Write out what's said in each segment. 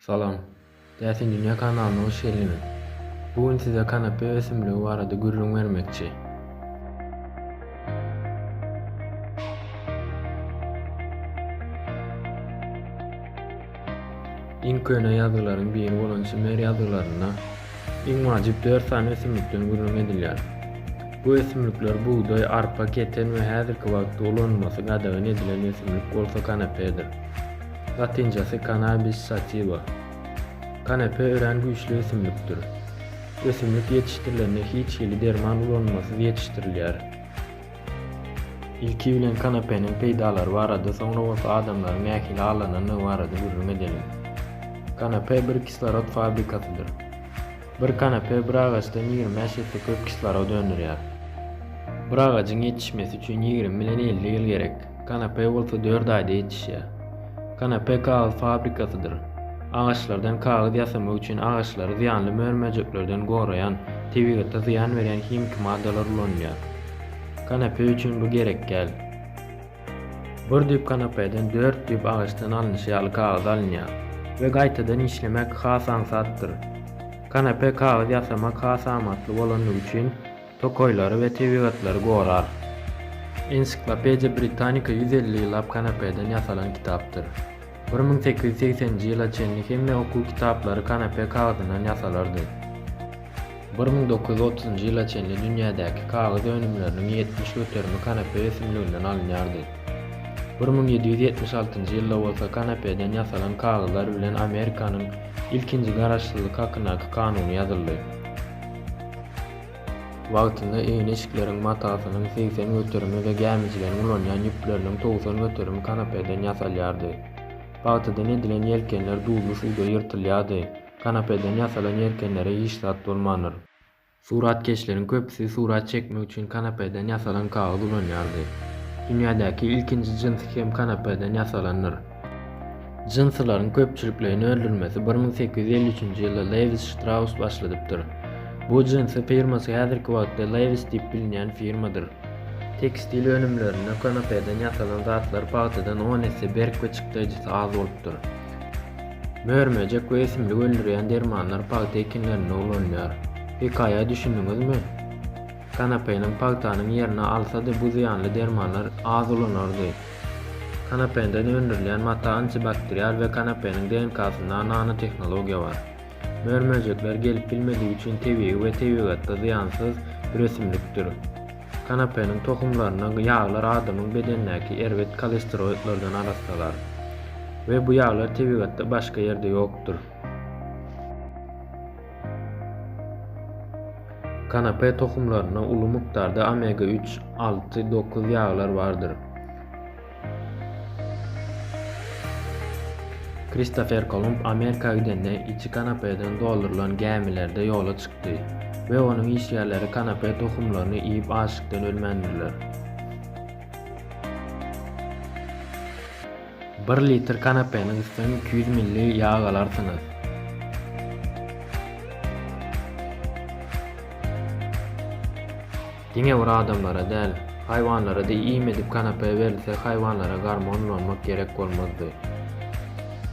Salam. Täsin dünýä kanalyna hoş geldiňiz. Bu gün size kanape ösümligi barada gürrüň bermekçi. Iň köne ýazgylaryň biri bolan Sümer ýazgylarynda iň wajyp dört sany ösümlikden gürrüň edilýär. Bu ösümlikler bugdaý, arpa, keten we häzirki wagtda ulanylmasy gadagan edilen ösümlik bolsa kanapedir. Latynçasy Cannabis sativa. Kanepe örän güýçli ösümlikdir. Ösümlik ýetişdirilende hiç hili derman ulanylmasyz ýetişdirilýär. Ilki bilen kanepeniň peýdalary barada, soňra bolsa adamlaryň nähili allanandygy barada gürrüň edeliň. Kanepe bir kislorod fabrikasydyr. Bir kanepe bir agaçdan ýigrimi bäş esse köp kislorod öndürýär. Bir agajyň ýetişmesi üçin ýigrimi bilen elli ýyl gerek. Kanape bolsa dört aýda ýetişýär. Kanape kagyz fabrikasydyr. Agaçlardan kagyz ýasamak üçin agaçlary zyýanly mör-möjeklerden goraýan, tebigata zyýan berýän himiki maddalar ulanylýar. Kanape üçin bu gerekgäl. Bir düýp kanapeden dört düýp agaçdan alnyşy ýaly kagyz alynýar. We gaýtadan işlemek has aňsatdyr. Kanape kagyz ýasamak has amatly bolandygy üçin, Tokaýlary we tebigatlary gorar. Ensiklopediýa Britanika ýüz elli ýyllap kanapeden ýasalan kitapdyr. Bir müň sekiz ýüz segseninji ýyla çenli hemme okuw kitaplary kanape kagyzyndan ýasalardy. Bir müň dokuz ýüz otuzynjy ýyla çenli dünýädäki kagyz önümleriniň ýetmiş göterimi kanape ösümliginden alynýardy. Bir müň ýedi ýüz ýetmiş altynjy ýylda bolsa kanapeden ýasalan kagyzlar bilen Amerikanyň ilkinji garaşsyzlyk hakyndaky kanuny ýazyldy. Wagtynda egin-eşikleriň matasynyň segsen göterimi we gämijileriň ulanýan ýüpleriniň togsan göterimi kanapeden ýasalýardy. Pagtadan edilen ýelkenler duzly suwda ýyrtylýardy. Kanapeden ýasalan ýelkenlere hiç zat bolmandyr. Suratkeşleriň köpüsi surat çekmek üçin kanapeden ýasalan kagyz ulanýardy. Dünýädäki ilkinji jyns hem kanapeden ýasalandyr. Jynsylaryň köpçülikleýin öldürilmesi bir müň sekiz ýüz elli üçünji ýylda Lewis Ştraus başladypdyr. Bu jynsy firmasy häzirki wagtda Levis diýip bilinýän firmadyr. Tekstil önümlerinde konopeden ýasalan zatlar pagtadan on esse berk we çykdaýjysy az bolupdyr. Mör-möjek we ösümlik öldürýän dermanlar pagta ekinlerinde ulanylýar. Hekaýa düşündiňizmi? Kanapeniň pagtanyň ýerini alsady bu zyýanly dermanlar az ulanardy. Kanapenden öndürilýän mata antibakterial we kanapeniň DNK-synda nanotehnologiýa bar. Mör-möjekler gelip bilmedigi üçin tebigy we tebigatda zyýansyz bir ösümlikdir. Kanapeniň tohumlaryna ýaglar adamyň bedenindäki erbet kolesteroidlerden arassalar. We bu ýaglar tebigatda başga ýerde ýokdur. Kanape tohumlarynda uly mukdarda omega 3, 6, 9 ýaglar bardyr. Kristofer Kolumb Amerika gidende içi kanapeden doldurylan gämilerde ýola çykdy we onuň işgärleri kanape tohumlaryny iýip açlykdan ölmändirler. Bir litr kanapeniň üstünden iki ýüz milli ýag alarsyňyz. Diňe bir adamlara däl, haýwanlara-da iým edip kanape berilse haýwanlara gormon ulanmak gerek bolmazdy.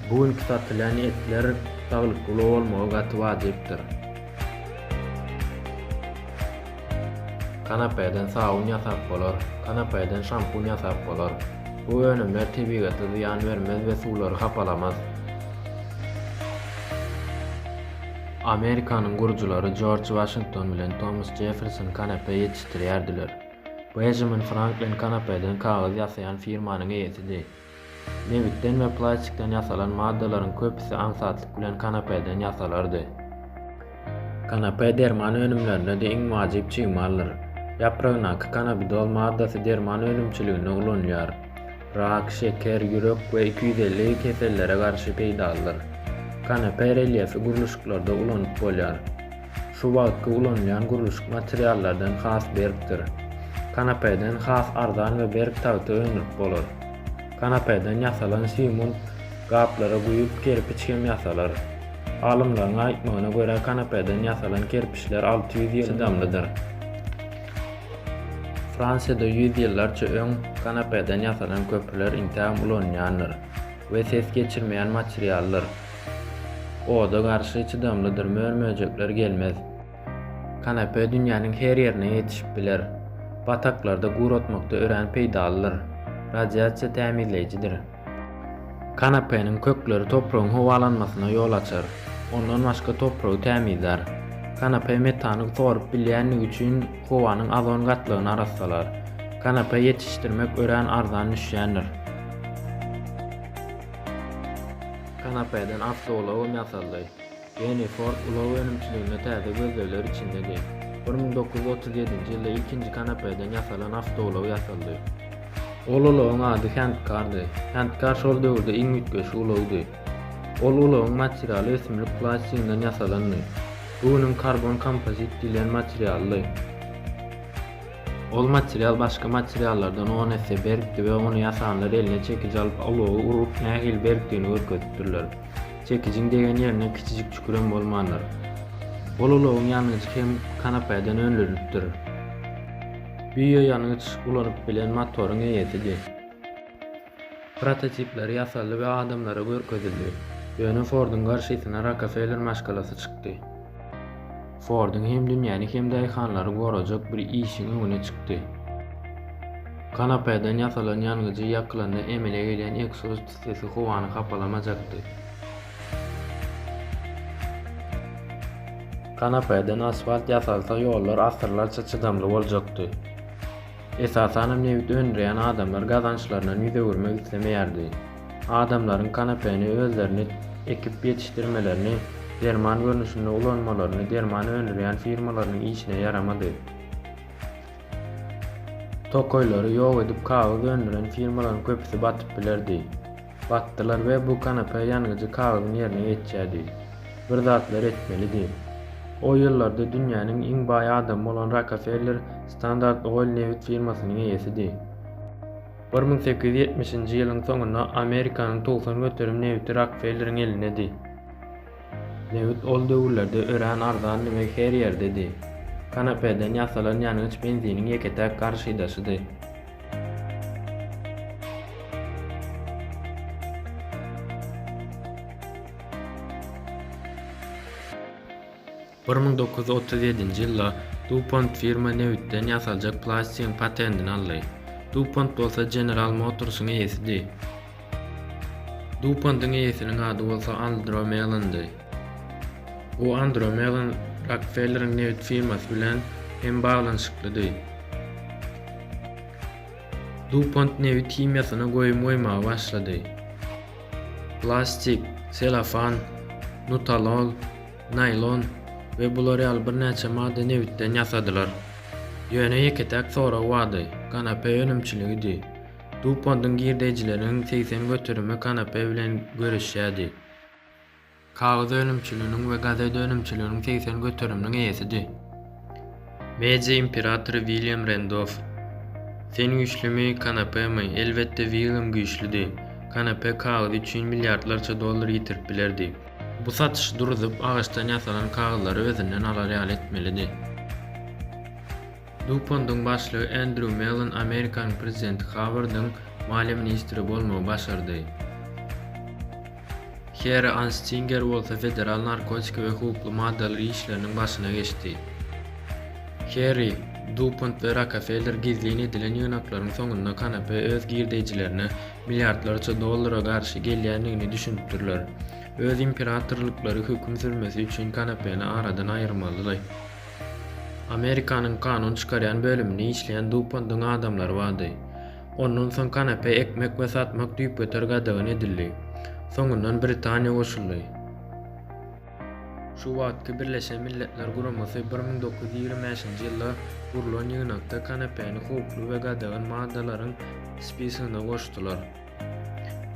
Bu günki satylýan etler saglykly bolmagy gaty wajypdyr. Kanapeden sabun ýasap bolar. Kanapeden şampun ýasap bolar. Bu önümler tebigata zyýan bermez we suwlary hapalamaz. Amerikanyň gurujylary Jorj Waşington bilen Tomas Jefferson kanape ýetişdirýärdiler. Bejmin Franklin kanapeden kagyz ýasaýan firmanyň eýesidi. Nebitden we plastikden ýasalan maddalaryň köpüsi aňsatlyk bilen kanapäden ýasalardy. Kanapä derman önümlerinde-de iň wajyp çig maldyr. Ýapragyndaky kanabidol maddasy derman önümçiliginde ulanylýar. Rak, şeker, ýürek we iki ýüz elli kesellere garşy peýdalydyr. Kanapä relýefi gurluşyklarda ulanyp bolýar. Şu wagtky ulanylýan gurluşyk materiallardan has berkdir. Kanapeden has arzan we berk tagta öndürip bolar. Kanapeden ýasalan simun gaplara guýup kerpiç hem ýasalar. Alymlaryň aýtmagyna görä kanapeden ýasalan kerpiçler alty ýüz ýyl çydamlydyr. Fransiýada ýüz ýyllarça öň kanapeden ýasalan köprüler intägem ulanylýandyr we ses geçirmeýän materialdyr. Oda garşy çydamlydyr, mör-möjekler gelmez. Kanapä dünýäniň her ýerine ýetişip biler. Bataklarda guratmakda örän peýdalydyr. Radiasiýa tämizleýjidir. Kanapeniň kökleri topragyň howalanmasyna ýol açar. Ondan başga topragy tämizlär. Kanapä metany sorup bilýändigi üçin howanyň ozon gatlagyny arassalar. Kanapä ýetişdirmek örän arzan düşýändir. Kanapeden awtoulagym ýasaldy. Geni Ford ulag önümçiliginde täze gözlegler içindedi. Bir müň dokuz ýüz otuz ýedinji ýylda ilkinji kanapeden ýasalan awtoulagy ýasaldy. Ol ulagyň ady Handkardy. Handkar şol döwürde iň üýtgeşik ulagydy. Ol ulagyň materialy ösümlik plastiginden ýasalandy. Bu günüň karbon kompozit diýlen materialdy. Ol material başga materiallardan on esse berkdi we ony ýasanlar eline çekiji alyp alowy urup nähili berkdigini görkezipdirler. Çekijiň degen ýerinde kiçijik çükurem bolmandyr. Ol alowyň ýangyjy hem kanapaýadan önlenipdir. Biýo ýangyç ulanyp bilen motoryň eýesidi. Prototipleri ýasaldy we adamlara görkezildi. Ýöne Forduň garşysyna Rokefeller maşgalasy çykdy. Forduň hem dünýäni hem daýhanlary gorajak bir işiň öňüne çykdy. Kanapeden ýasalan ýangyjy ýakylanda emele gelýän ekzoz pissesi howany hapalamajakdy. Kanapeden asfalt ýasalsa ýollar asyrlarça çydamly boljakdy. Esasanam nebit öndürýän adamlar gazançlaryndan ýüz öwürmek islemeýärdi. Adamlaryň kanapeni özlerini ekip ýetişdirmelerini, derman görnüşinde ulanmalaryny derman öndürýän firmalarynyň işine ýaramady. Tokaýlary ýok edip kagyz öndüren firmalaryň köpüsi batyp bilerdi. Batdylar we bu kanapä ýanyjy kagyzyň ýerine ýetýärdi. Bir zatlar etmelidi. O ýyllarda dünýäniň iň baý adamy bolan Rokefeller Standard Oil nebit firmasynyň eýesidi. Bir müň sekiz ýüz ýetmişinji ýylyň soňunda Amerikanyň togsan göterim nebiti Rokfelleriň elindedi. Nebit ol döwürlerde örän arzandy we her ýerdedi. Kanapeden ýasalan ýangyç benziniň ýeke-täk garşydaşydy. Bir müň dokuz ýüz otuz ýedinji ýylda DuPont firma nebitden ýasaljak plastigiň patendini aldy. DuPont bolsa General Motors-yň eýesidi. DuPont-yň eýesiniň ady bolsa Andro Mellon-dy. Bu Andro Mellon Rokfelleriň nebit firmasy bilen hem baglanyşyklydy. DuPont nebit himiýasyna goýum goýmaga başlady. Plastik, selofan, nutalol, naýlon we bular ýaly birnäçe maddy nebitden ýasadylar. Ýöne ýeke-täk sorag bardy, kanape önümçiligidi. DuPont-yň girdeýjileriniň segsen göterimi kanape bilen göreşýärdi. Kagyz önümçiliginiň we gazet önümçiliginiň segsen göteriminiň eýesidi. Media imperatory William Rendoff, Sen güýçlümi, kanapemi? Elbetde, Willem güýçlüdi. Kanape kagyz üçin milliardlarça dollar ýitirip bilerdi. Bu satyşy duruzyp, agaçdan ýasalan kagyzlary özünden alar ýaly etmelidi. Dupondyň başlygy Andrew Mellon Amerikanyň prezidenti Howardyň maliýe ministri bolmagy başardy. Heri Anstinger bolsa Federal narkotik we howply maddalar işleriniň başyna geçdi. Heri, Dupont we Rockefeller gizlin edilen ýygnaklaryň soňunda Kanape öz girdeýjilerine milliardlarça dollara garşy gelýändigini düşünipdirler. Öz imperatorlyklary höküm sürmesi üçin Kanapeni aradan aýyrmalydy. Amerikanyň kanun çykarýan bölüminde işleýän Dupontyň adamlary bardy. Ondan soň kanapä ekmek we satmak düýpgöter gadagan edildi. Soňundan Britaniýa goşuldy. Şu wagtky Birleşen Milletler Guramasy bir müň dokuz ýüz ýigrimi bäşinji ýylda gurlan ýygnakda kanapäni howply we gadagan maddalaryň spisigine goşdular.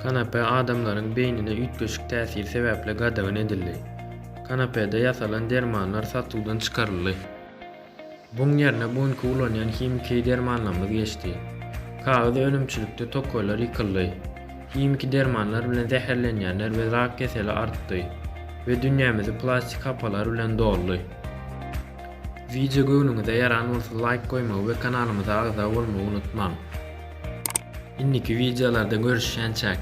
Kanapä adamlaryň beýnine üýtgeşik täsiri sebäpli gadagan edildi. Kanapäde ýasalan dermanlar satuwdan çykaryldy. Buň ýerine bu günki ulanýan himiki dermanlarymyz geçdi. Kagyz önümçilikde tokaýlar ýykyldy. Himiki dermanlar bilen zäherlenýänler we rak keseli artdy we dünýämizi plastik hapalar bilen doldy. Wideo göwnüňize ýaran bolsa laýk goýmagy we kanalymyza agza bolmagy unutmaň. Indiki wideolarda görüşýänçäk.